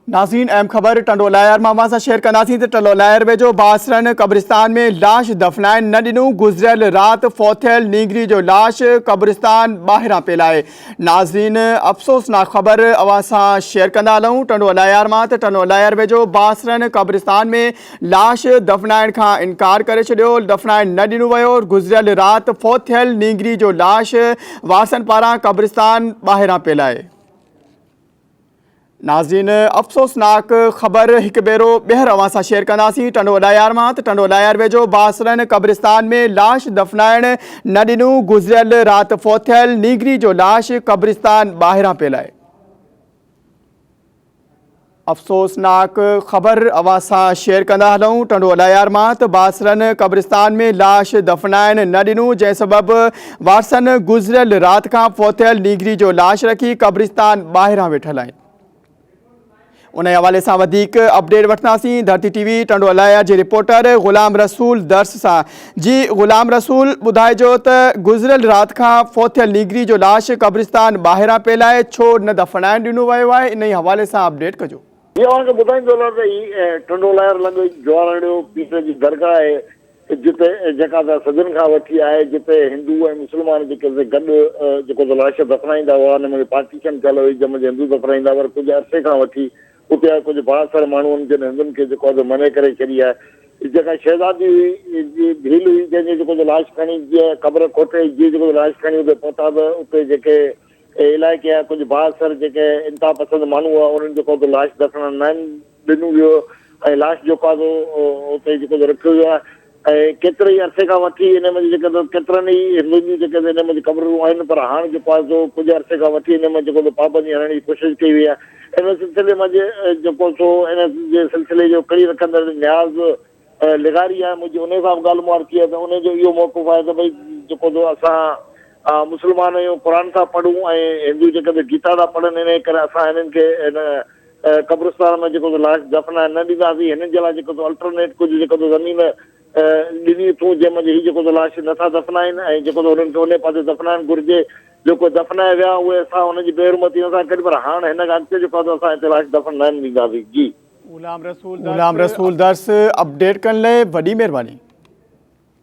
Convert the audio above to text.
ناظرين اهم خبر ٽنڊو لاهيار مان اوهان سان شيئر ڪنداسين ته ٽنڊو لاهيار ويجهو باسرن قبرستان ۾ لاش دفنائڻ نه ڏنو گذريل رات فوتيل نينگري جو لاش قبرستان ٻاهران پيل آهي ناظرين افسوسناڪ خبر اوهان سان شيئر ڪندا هلون ٽنڊو لاهيار مان ته ٽنڊو لاهيار ويجهو باسرن قبرستان ۾ لاش دفنائڻ کان انڪار ڪري ڇڏيو دفنائڻ نه ڏنو ويو گذريل رات فوت ٿيل نينگري جو لاش وارثن پاران قبرستان ٻاهران پيل آهي ناظرين افسوسناڪ خبر هڪ ڀيرو ٻيهر اوهان سان شيئر ڪنداسين ٽنڊو اڏايار مان ته ٽنڊو اڏايار ويجهو باسرن قبرستان ۾ لاش دفنائڻ نه ڏنو گذريل رات فوت ٿيل نيگري جو لاش قبرستان ٻاهران پيل آهي افسوسناڪ خبر اوهان سان شيئر ڪندا هلون ٽنڊو اڏايار مان ته باسرن قبرستان ۾ لاش دفنائڻ نه ڏنو جنهن سبب وارثن گذريل رات کان فوتيل نيگري جو لاش رکي قبرستان ٻاهران ويٺل آهن ان حوالي سان وڌيڪ اپڊيٽ وٺنداسين ڌرتي ٽي وي ٽنڊو الايا جي رپورٽر غلام رسول درس سان جي غلام رسول ٻڌائجو ته گذريل رات کان فوتيل نيگري جو لاش قبرستان ٻاهران پيل آهي ڇو نه دفنائڻ ڏنو ويو آهي ان حوالي سان اپڊيٽ ڪجو هي اوهان کي ٻڌائيندو هلان ته هي ٽنڊو لهر لڳ جوارهڙيو پير جي درگاهه آهي جتي جيڪا ته صدين کان وٺي آهي جتي هندو ۽ مسلمان جيڪي سي گڏ جيڪو ته لاش دفنائيندا هئا ان ۾ پارٽيشن ٿيل هئي جنهن ۾ جي هندو دفنائيندا پر ڪجهه عرصي کان وٺي اتي آهي ڪجهه بااثر ماڻهون جن هندن کي جيڪو ته منع ڪري ڇڏي آهي جيڪا شهزادي هئي جي ڀيل هئي جنهن جي جيڪو ته لاش کڻي جي قبر کوٽي جي جيڪو ته لاش کڻي اتي پهتا ته اتي جيڪي اهي علائقي يا ڪجهه بااثر جيڪي انتهاپسند ماڻهو هئا، انهن جيڪو اتي لاش دفنائڻ ناهن ڏنو ويو ۽ لاش جيڪو آهي سو اتي جيڪو سو رکيو ويو آهي ۽ ڪيتري ئي عرصي کان وٺي انهي منجهه جيڪي سو ڪيترن ئي هندن جون جيڪي سو انهي منجهه قبررون آهن پر هاڻ جيڪو آهي سو ڪجهه عرصي کان وٺي انهي منجهه جيڪو سو پابندي هڻڻ جي ڪوشش ڪئي وئي آهي. انهي سلسلي منجهه جيڪو سو انهي جي سلسلي جو ڪڙي رکندڙ نياز لغاري آهي منهنجي انهي سان به ڳالهه مهاڙ ٿي آهي ته انهي جو اهو موقف آهي ته ڀئي جيڪو جو اسان مسلمان آهيون قرآن ٿا پڙهون ۽ هندو جيڪا جو گيتا ٿا پڙهن انهي ڪري اسان هنن کي هن قبرستان ۾ جيڪو جو لاش دفنائڻ نه ڏينداسين هنن جي لاء جيڪو جو الٽرنيٽ ڪجهه جيڪو جو زمين ڏني اٿون جنهن منجهه هي جيڪو جو لاش نه ٿا دفنائن ۽ جيڪو جو هنن کي انهي پاسي دفنائڻ گهرجي جو ڪو دفنائي ويا اهي اسان هنن جي بي حرمتي نه ٿا ڪريون پر هاڻ هن کان اڳتي جيڪو جو اسان هتي لاش دفن نه ڏينداسين جي. غلام رسول درس اپڊيٽ ڪرڻ لاء وڏي مھرباني.